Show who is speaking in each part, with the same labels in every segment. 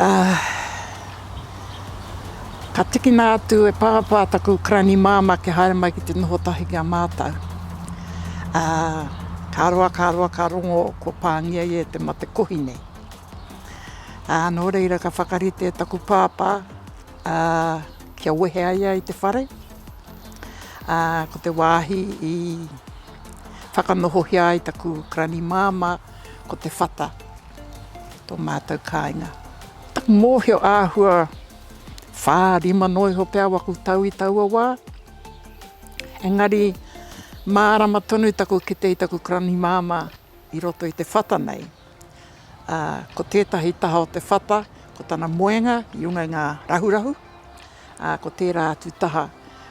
Speaker 1: Ā, ka tikina atu e Pāpā taku karani māmā kia haere mai ki te noho tahi ki a mātou. Ā, ka roa, ka roa, ka rongo kua pāngia ia e te mate kohi nei. Ā, nō reira ka whakarite e taku Pāpā, ā, kia wehe ai ia i te whare, ā, ko te wāhi i whakanohohia ai taku karani māmā ko Te Whata. ki tō mātou kāinga. Taku mōhio āhua whā, rima noa iho pea waku tau i taua wā, engari mārama tonu taku kite i taku karani māmā i roto i te whata nei. Ā, ko tētahi taha o te whata, ko tana moenga i runga i ngā rahurahu, ā, ko tērā atu taha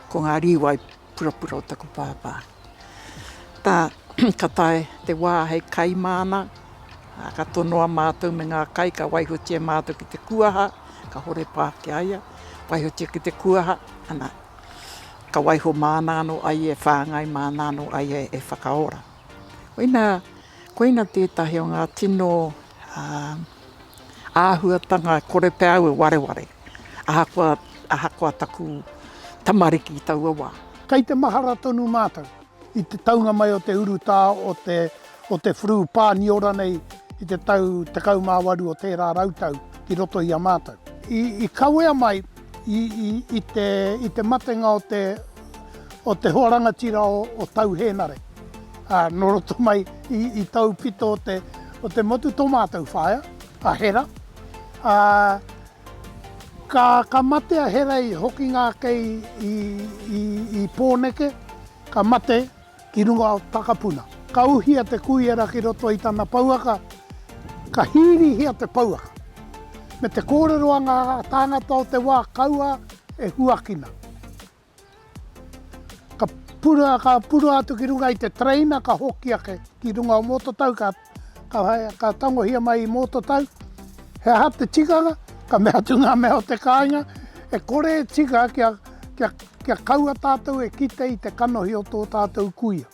Speaker 1: ko ngā rīwai purapura o taku pāpā. Tā, ka tae te wā hei kai māna, ka tonoa mātou me ngā kai, ka waihotia mātou ki te kuaha, ka hore pā ki a ia, waihotia ki te kuaha, ana, ka waiho māna anō ai e whāngai, māna anō ai e, e whakaora. Koina, koina tētahi o ngā tino ā, āhuatanga kore pea au e wareware. Ahakoa, ahakoa taku tamariki i taua wā. Kei te mahara
Speaker 2: tonu mātou i te taunga mai o te urutā o te, o te Flu Pāniora nei i te tau 18 o tērā rautau ki roto i a mātou. I, i kawea mai i, i, i, te, i te matenga o te, o te hoa rangatira o, o Tau Hēnare, ā, nō roto mai i, i taupito o te, o te motu tō mātou whaea, a Hera, ā, ka, ka mate a Hera i hokinga ake i, i, i, i Pōneke, ka mate ki runga o Takapuna. Ka uhia te kuiara ki roto i tana pouaka, ka hīrihia te pouaka, me te kōrero a ngā tāngata o te wā kaua e huakina. Ka purua, ka purua atu ki runga i te tereina ka hoki ake ki runga o Mototau ka ka tangohia mai i Mototau. He aha te tikanga? Ka mea atu nga mea o te kainga, e kore e tika kia kia kia kaua tatou e kite i te kanohi o to tatou kuia.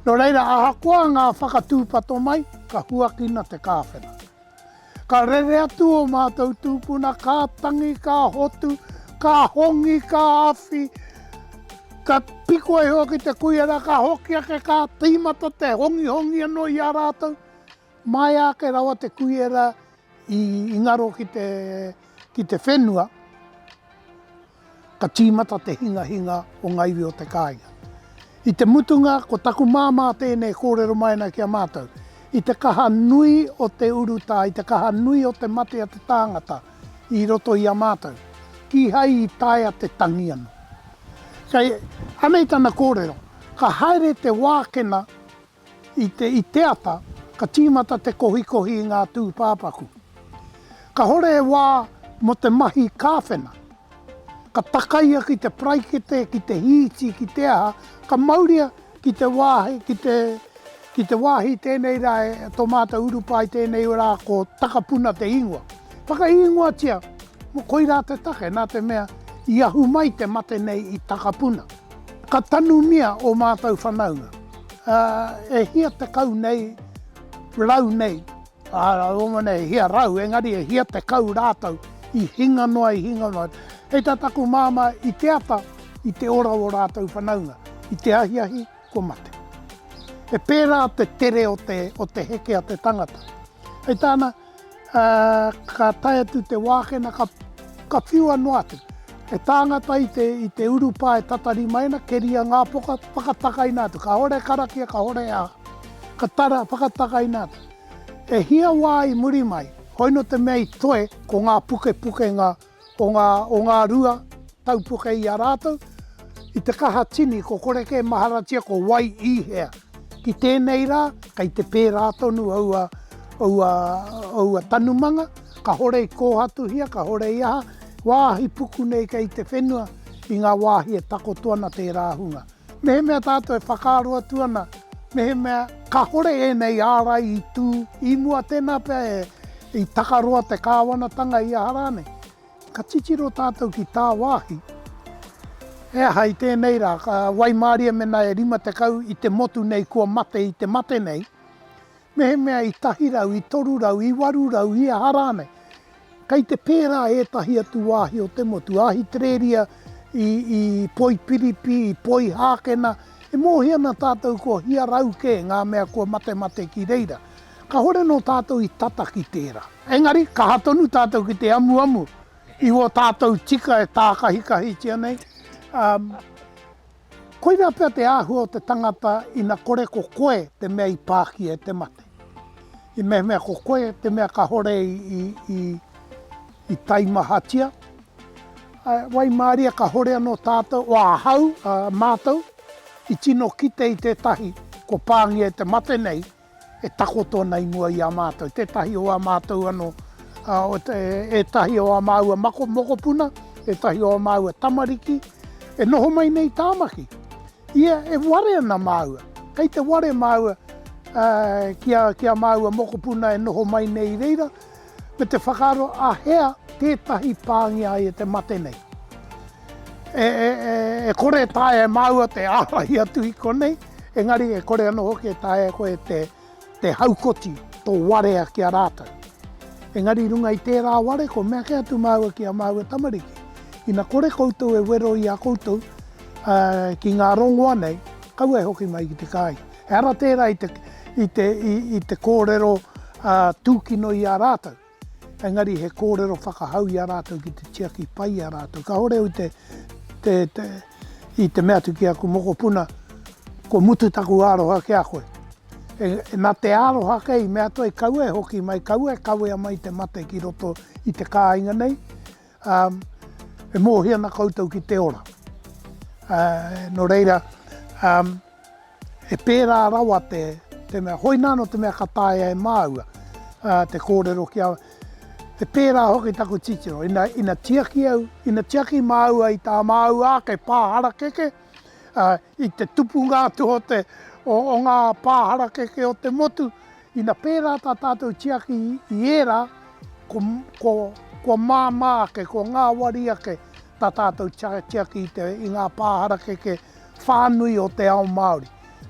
Speaker 2: Nō reira, ahakoa ngā whakatūpato mai, ka huakina te kāwhena. Ka rere atu ō mātou tūpuna, ka tangi, ka hotu, ka hongi, ka awhi, ka piko iho ki te kuia rā, ka hoki ake, ka tīmata te hongihongi anō i a rātou, Maea ake rawa te kuiera i ngaro ki te, ki te whenua, ka tīmata te hingahinga o ngā iwi o te kāinga. I te mutunga, ko taku māmā tēnei e kōrero mai ana ki a mātou, i te kaha nui o te urutā, i te kaha nui o te mate a te tāngata i roto i a mātou, kīhai i taea te tangi anō. Kei, anei tana kōrero, ka haere te wākena I te i te ata, ka tīmata te kohikohi i ngā tūpāpaku. Kahore e wā mo te mahi kāwhena. Ka takaia ki te paraikete, ki te hīti, ki te aha, ka mauria ki te wāhi, ki te, ki te wāhi tēnei rā e tō mātou urupā i tēnei rā ko Takapuna te ingoa. Whakaīngoatia, koirā te take, nā te mea i ahu mai te mate nei i Takapuna. Ka tanumia ō mātou whanaunga, ā, e hia tekau nei, rau nei, ā, rāua nei, e hia rau, engari e hia tekau rātou i hinga noa, i hinga noa. Hei tā taku māmā, i te ata, i te ora o rātou whanaunga, i te ahiahi, kua mate. He pērā te tere o te, o te heke a te tangata. Hei tāna, ā, ka tae atu te wākena ka whiua noa atu. He tāngata i te urupā e tatari mai ana, keria ngā poka, whakatakaina atu. Kāore karakia, kāore hea, ka tara, whakatakaina atu. E hia wā i muri mai, hoino te mea i toe, ko ngā pukepukenga Ko ngā o ngā rua tau puke i a rātou, i te kaha tini ko kore kē maharatia ko wai i hea. Ki tēnei rā, kei te pērā tonu aua, aua, aua tanumanga, kahore i kōhatuhia, kahore i aha, wāhi puku nei kei te whenua i ngā wāhi e takoto ana tērā hunga. Mehemea tātou e whakaaro atu ana mehemea kāhore ēnei ārai i tū i mua, tēnā pea i takaroa te kāwanatanga i aha rānei, ka titiro tātou ki tāwāhi, he aha i tēnei rā, ka waimārie mēnā e 50 i te motu nei kua mate i te mate nei, Mehemea i tahi rau, i toru rau, i waru rau, i aha rānei. Kei te pērā ētahi atu wāhi o te motu, Ahitereria, i, i Poipiripi, i Poihākena, e mōhio ana tātou ko hia rau kē ngā mea kua matemate ki reira. Kāhore nō tātou i tata ki tērā. Engari, kaha tonu tātou ki te amuamu i wō tātou tika e tākahikahitia nei, ā, Koirā pea te āhua o te tangata ina kore ko koe te mea i pākia e te mate. I mehemea ko koe te mea kahore i taimahatia, āe, waimaria kahore anō tātou, ahau, mātou, i tino kite i tētahi kua pāngia e te mate nei, e takoto ana i mua i a mātou, tētahi o ā mātou anō, ētahi o ā māua mokopuna, ētahi o ā māua tamariki e noho mai nei i Tāmaki. Ia e ware ana māua, kei te ware māua ki ā māua mokopuna e noho mai nei i reira, me te whakaaro a hea tētahi pāngia ai e te mate nei. E, e, e, e kore e taea e māua te ārahi atu i konei, engari e kore anō hoki e taea koe te, te haukoti tō warea ki a rātou. Engari i runga i tērā ware, ko mea ke atu māua ki a māua tamariki. Ina kore koutou e wero i a koutou uh, ki ngā rongoa nei, kaua e hoki mai ki te kāinga. He ara tērā i te kōrero tūkino i a rātou, engari he kōrero whakahau i a rātou ki te tiaki pai i a rātou. Kāore au i te mea atu ki aku mokopuna, kua mutu taku aroha ki a koe. Nā te aroha kē i mea atu ai, kaua e hoki mai, kaua e kawea mai te mate ki roto i te kāinga nei, Ā, e mōhio ana koutou ki te ora. Ā, nō reira, ā, e pērā rawa te, te mea, hoi nāno te mea ka taea e māua, ā, te kōrero ki a, e pērā hoki taku titiro, ina, ina tiaki au, ina tiaki māua i tā māua ake pā harakeke, ā, i te tupunga atu o te, o, o ngā pā harakeke o te motu, Ina pērā tā tātou tiaki i ērā, kua māmā ake, kua ngāwari ake tā tātou tiaki i ngā pā harakeke whānui o te ao Māori.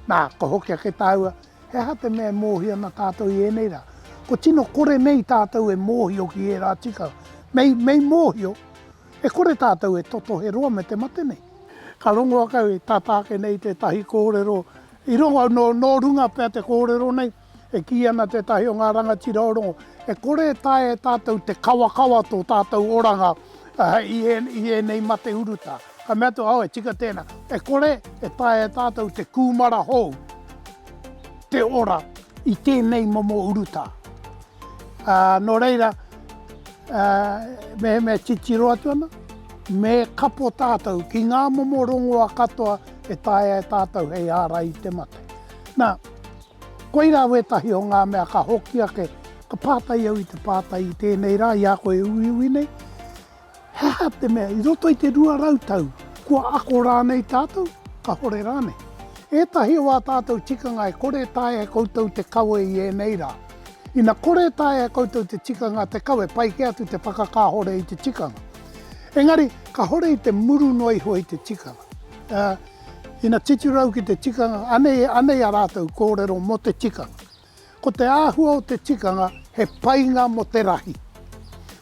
Speaker 2: Nā, ka hoki ake tāua, he aha te mea e mōhio ana tātou i ēnei rā? Kua tino kore nei tātou e mōhio ki ērā tikanga. Mei mōhio, e kore tātou e totohe roa me te mate nei. Ka rongo ake au, e tata ake nei tētahi kōrero I rongo, nō, nō runga pea te kōrero nei, e kī ana tētahi o ngā rangatira o rongo, e kore e taea e tātou te kawakawa tō tātou oranga i, i ēnei mate urutā. Ka mea te, aue, tika tēnā. E kore e taea e tātou te kūmara hou te ora i tēnei momo urutā. Ā, nō reira, ā, mehemea titiro atu ana, me kapo tātou ki ngā momo rongoa katoa, e taea e tātou hei ārai i te mate. Nā, koirā wētahi o ngā mea ka hoki ake, ka pātai au i te pātai i tēnei rā i a koe e uiui nei, he aha te mea i roto i te 200 tau, kua ako rānei tātou, kāore rānei? Ētahi o ā tātou tikanga e kore e taea e koutou te kawe i ēnei rā. Ina kore e taea e koutou te tikanga te kawe, pai kē atu te whakakāhore i te tikanga. Engari, kāhore i te muru noa iho i te tikanga. ā, ina titirau ki te tikanga, anei, anei a rātou kōrero mō te tikanga. Ko te āhua o te tikanga, he painga mō te rahi,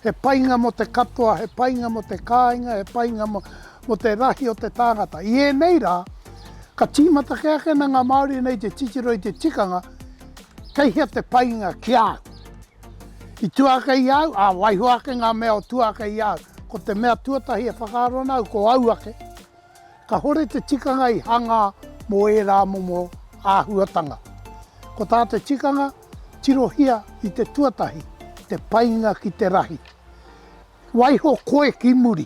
Speaker 2: he painga mō te katoa, he painga mō te kāinga, he painga mō, mō te rahi o te tāngata. I ēnei rā, ka tīmata kē ake ana ngā Māori nei te titiro i te tikanga, kei hea te painga ki a au? I tuākei i a au, ā, waiho ake ngā mea o tuākei i a au. Ko te mea tuatahi e whakaaro ana au, ko au ake. Ka hore te tikanga i hangā mō ērā momo āhuatanga. Ko tā te tikanga, tirohia i te tuatahi te painga ki te rahi. Waiho koe ki muri.